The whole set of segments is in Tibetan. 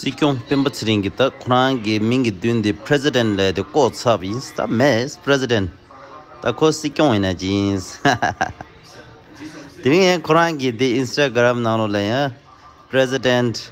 སྲིད་སྐྱོང་སྤེན་པ་ཚེ་རིང་གིས་ད་ཁོ་རང་གི་མིང་གི་མདུན་དེ president ལས་དེ་ལྐོག་ཚབ་ཡིན་ད་མེད president ད་ཁོ་སྲིད་སྐྱོང་ཡིན་ན་ཅི་ཡིན། དེ་རིང་ཡང་ཁོ་རང་གི་དེ instagram ནང་ལོ་ལ་ཡང president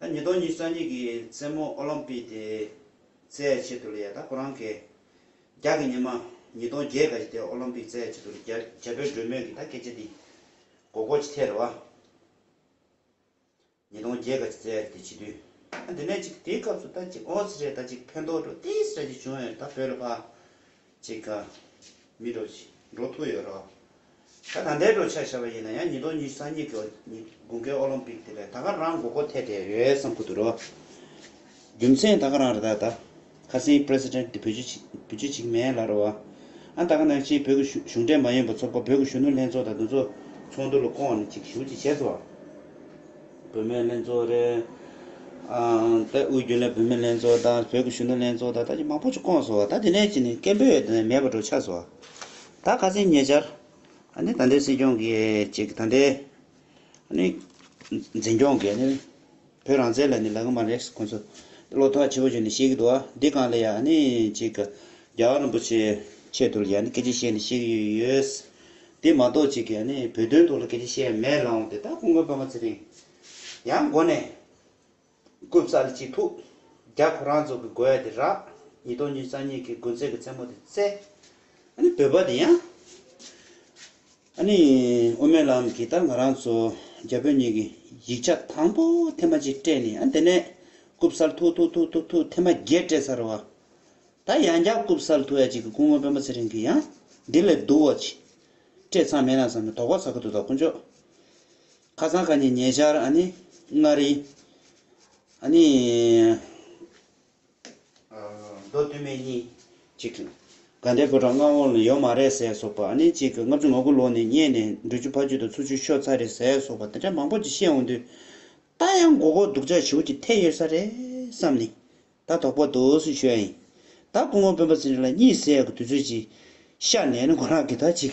ད་ཉིས་སྟོང་ཉིས་རྩ་གཉིས་ཀྱི་མཚན་མོ་ཨོ་ལོམ་པིག་དེ་རྩེད་ཆེད་དུ་ལ་ཡ་ད་ཁོ་རང་གེ་རྒྱག་གི་ཉི་མ་ཉིས་སྟོང་བརྒྱད་ག་གི་དེ་ཨོ་ལོམ་པིག་རྩེད་ཆེད་དུ་ལ་རྒྱ་བོད་སྒྲོལ་མོད་ཀྱི་ད་སྐད་ཆ་འདི་གོ་གོ་ཅི་ཐད་རེད་བ། ཉིས་སྟོང་བརྒྱད་ག་གི་རྩེད་ཡ་དེ་བྱེད་དུས་ཨ་འདི་ནས་ཅིག་དེའི་སྐབས་སུ་ད་ཅིག་ཨོ་ཟེར་ད་ཅིག་ཕན་ཐོགས་འགྲོ་ཏིས་ར་ཅིག་བྱུང་ཡོད་རེད་ད་བོད་ལ་ཕ། ཅིག་ག། མི་འགྲོ། འགྲོ་ཐུག་ཡོད་རོ། ད་ད་ལྟའི་འགྲོ་འཆག་བྱ་བ་ཡིན་ན་ཡང་ཉིས་སྟོང་ཉི་གསང་གཉིས་ཀྱི་དགུན་ཁའི་ཨོ་ལོམ་པིག་དེ་ལས་ད་ག་རང་མགོ་སྐོར་ཐེད་དེ་ཡོད་བསམ་ཁུ་འདུག་རོ། རྒྱུ་མཚན་ད་ག་རང་རེ་ད་ད་ཁ་སིང president དེ་བོད་བྱུས་བྱུས་གཅིག་མེད་ལ་རོ། ཨ་ད་ག་ནང་ཆེན་བོད་ཀྱི་གཞུ་གཞུང་འབྲེལ་མ་ཡོན་པ་ཚོ་དགོ་བོད་ཀྱི་གཞུ་ནུ་ལྷན་ཚོགས་དང་དུ་ཚོགས་ཚོགས་འདུ་ལ་བསྐོང་བ་ནི་ཅིག་གཞུ་ཅིག་བྱས་སོ། བུད་མེད་ལྷན་ཚོགས་རེད། དེ་དབུས་རྒྱུན་ལས་བུད་མེད་ལྷན་ཚོགས་དང་བོད་ཀྱི་གཞོན་ནུ་ལྷན་ཚོགས་དང་ད་ཅི་མང་པོ་ཅིག་བསྐོངས་སོང་བ་ད་དེ་ནས་ཅི་ནས་སྐད་འབོད་ཡོད་དེ་མེད་པ་འགྲོ་ཆགས་སོང་བ། ད་ག་ཚེ་ཉེ་ཆར། ཨ་ནི་ད་ལྟའི་སྲིད་སྐྱོང་གི་ཅིག་ད་ལྟའི། ཨ་ནི། འཛིན་སྐྱོང་གི་ཨ་ནི། བོད་རང་བཙན་ལ་ནི་ལག་ལེན་མ་རེག་ཁོ་ཚོ། བློ་ཐག་ཆོད་པོ་ཞིག་ནི་བཤད་ཀྱི་འདུག་བ་འདི་གང་ལ་ཡང་ཨ་ནི་ཅིག། རྒྱ་གར་རིན་པོ་ཆེའི་ཆེད་དུ་ལ་ཡང་ནི་སྐད་ཆ་བཤད་ནས་བཤད་ཀྱི་ཡོད། དེ་མ་གཏོགས་ཅིག་ཡང་ནི་བོད་དོན་ཐོག་ལ་སྐད་ཆ་བཤད་ཡ་མེད་རང་དེ་དག་གོང་དགོན་པདྨ་ཚེ་རིང་ཡང་མགོ་ནས་བཀོད་བསགས་ལ་ཅི་ཐུག་རྒྱ་ཁོ་རང་ཚོ་གི་དགོས་ཡ་དེ་རག་ཉིས་སྟོང་ཉིས་རྩ་གཉིས་ཀྱི་དགུན་ཚེས་ཀྱི་མཚན་མོ་དེ་བཙལ་ཨ་ནི་བོད་པ་དེ་ཡང་ཨ་ནི་དབུ་མའི་ལམ་གྱི་ད་ང་རང་ཚོ་རྒྱ་བོད་གཉིས་ཀྱི་ཡིག་ཆ་དང་པོ་ཐེངས་མ་གཅིག་སྤྲད་ནས་ཨ་དེ་ནས་བཀུབ་བསགས་ལ་ཐུག་ཐུག་ཐུག་ཐུག་ཐུག་ཐེངས་མ་བརྒྱད་སྤྲད་ཚར་བ་ད་ཡང་བསྐྱར་སྐུབ་སར་ཐུག་ཡ་གཅིག་གི་སྐུ་ངོ་དཔོན་པོ་ཚེ་རིང་གིས་ཡང། འདི་ལས་སྡུག་བ་ཅི། སྤྲད་ཚང་མེད་ན་བཟང་མོད་དོགས་པ་ཟ་གི་འདུག་ད་དཀོན་མཆོག། ཁ་སང་ཁ་ཉིན་ཉེ་ཆར་ཨ་ནི། མངའ་རིས། ཨ་ནི། མདོ་སྟོད་སྨད་གཉིས། ཅིག། དགའ་ལྡན་བུ་གྲང་མངའ་དབང་ལ་ཡོད་མ་རེད་ཟས་སོགས་པ་ཨ་ནི་ཅིག་ལྔ་བཅུ་ང་དགུ་ལོ་ནས་རྙེད་ནས་འབྲུ་ཆུ་ཕ་ཆུ་དང་ཆུ་ཆུ་ཤོ་ཚ་རེད་ཟས་སོགས་པ་དེ་འདྲ་མང་པོ་ཅིག་བཤད་འོང་དུས། ད་ཡང་མགོ་སྐོར་སྡུག་ཅག་བྱེའུ་ཀྱི་ཐད་ཡོད་ས་རེད་བསམ་ནས། ད་དོག་པོ་འདུག་སུས་ཤོད་ཨེ། ད་སྐུ་ངོ་དཔོན་པོ་ཚེ་རིང་ལ་གཉིད་སད་དགོས་དུས་ཚོད་ཅིག་ཤར་ནས་ནི་མགོ་ལག་གི་ད་ཅིག་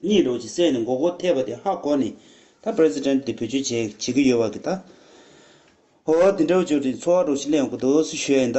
གཉིད་ལོག་ཅིག་སད་ནས་མགོ་སྐོར་ཐེབས་པ་དེ་ཧ་གོ་ནས་ད president དེ་བེད་སྤྱོད་བྱེད་བྱེད་ཀྱི་ཡོད་བ་གི་ད། ཧོ། དེ་འདྲ་བོ་ཇོ་དྲིན་འཚོ་བ་རོ་ཞིག་གླེང་དགོས་འདུག་སུས་ཤོད་ཨེ་ད།